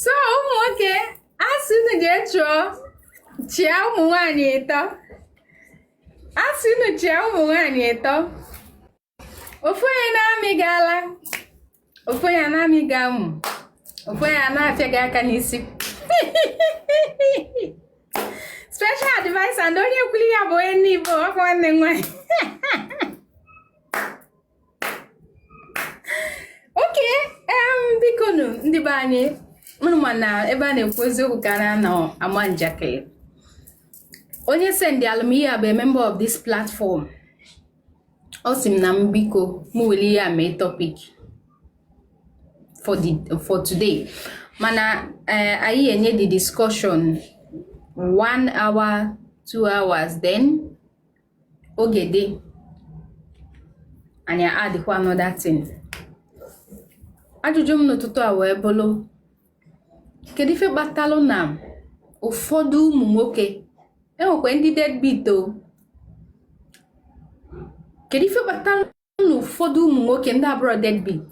so ụmụ nwoke a sị unu jee chụọ chịa ụmụ nwaanyị ịtọ a sị unu chịa ụmụ nwaanyị ịtọ ofu onye na-amị gị ala ofu onye na-amị gị amụ ofu onye na-afịa gị aka n'isi special advice and onye kwulu ya bụ onye Igbo ọkwa nwanne nwaanyị okay bikonu ndị be anyị unu ma na ebe a na-ekwu eziokwu ka a na-anọ ama njakịrị onye sendịalụ m ihe a bụ a member of this platform ọ sị m na m biko m welu ihe a mee topic for today mana eh, anyị enye the discussion one hour two hours then oge dị anyị addịkwa another thing ajụjụ m n'ụtụtụ a wee bụrụ kedu ife kpatalụ na ụfọdụ ụmụ nwoke e nwekwa ndị deadbeat o kedu ife kpatalụ na ụfọdụ ụmụ nwoke ndị abụrọ deadbeat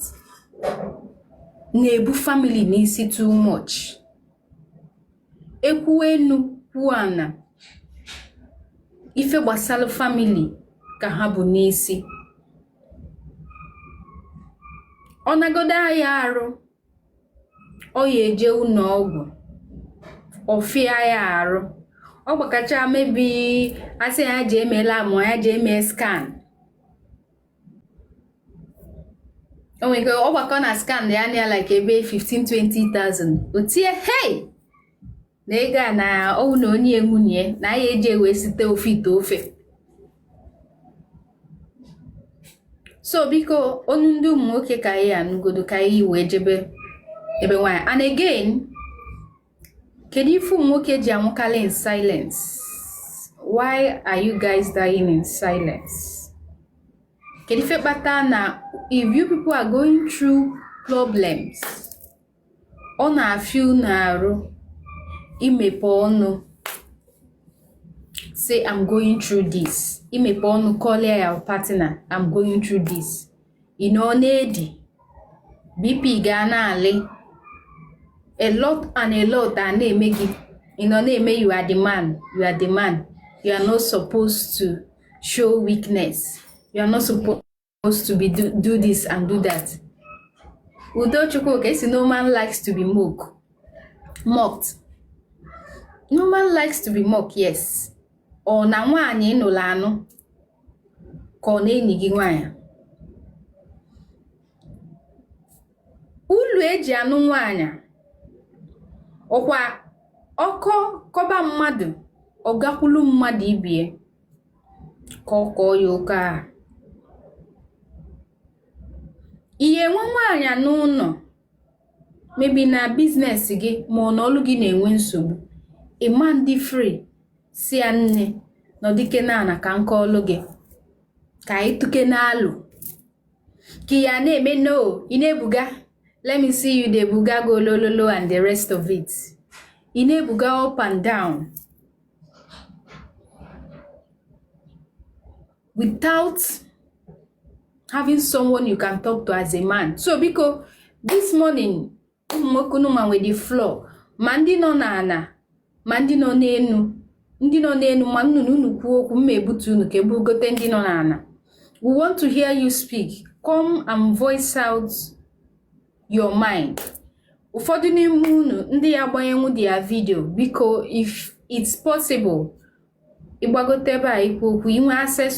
na-ebu famili n'isi too much e kwuo enu kwuo ana ife gbasara famili ka ha bu n'isi ọ nagodo aya arụ ọ ya eje ụnọ ọgwụ ọ fịa ya arụ ọ gbakọchaa maybe a sị ya jee mee lab ma ya jee mee scan o nwere ike ọ gbakọọ na scan ya-ana ya like ebe 15 20000 o tie hei na ego a na ọwụ na o nye nwunye na a ya-eji wee site ofe ite ofe so biko ọnụ ndị ụmụ nwoke ka a ya-anụgodo ka anyị wee jebe ebe nwaanyị and again kedu ife ụmụ nwoke ji anwụkarị in silence why are you guys dying in silence kedu ife kpata na if you people are going through problems ọ na-afịa unu arụ imepe ọnụ say i'm going through this imepe ọnụ kọlụ your partner i'm going through this ị nọ na-edi bp gị ana-alị a lot and a lot a na-eme gị ị nọ na-eme you are the man you are the man you are not supposed to show weakness you are not supposed supposed to be do, do this and do that udo chukwuka asị no man likes to be mocked mocked no man likes to be mocked yes ọ na nwaanyị ị nụlụ anụ ka ọ na enyi gị nwaanyị ulu eji anụ nwaanyị ọ kwa ọkọ kọba mmadụ ọ gakwulu mmadụ ibie ka ọ kọọ ya ọkọ ahụ ị ya-enwe nwaanyị n'ụnọ maybe na business gị ma ọ na ọlụ gị na-enwe nsogbu ị ma dị free sị ya nne nọdụkene ana ka m kọọlụ gị ka anyị tụkene alo ka ya na-eme no ị na-ebuga let me see you dey buga go low low low and the rest of it ị na-ebuga up and down without having someone you can talk to as a man so biko this morning ụmụ nwoke unu nwa nwe the floor ma ndị nọ n'ana ma ndị nọ n'enu ndị nọ n'enu manụ na unu kwuo okwu mma ebutu unu ka ebugote ndị nọ n'ana we want to hear you speak come and voice out your mind ụfọdụ n'ime unu ndị ya agbanyenwu their video biko if it's possible ịgbagote ebe a ikwu okwu inwe access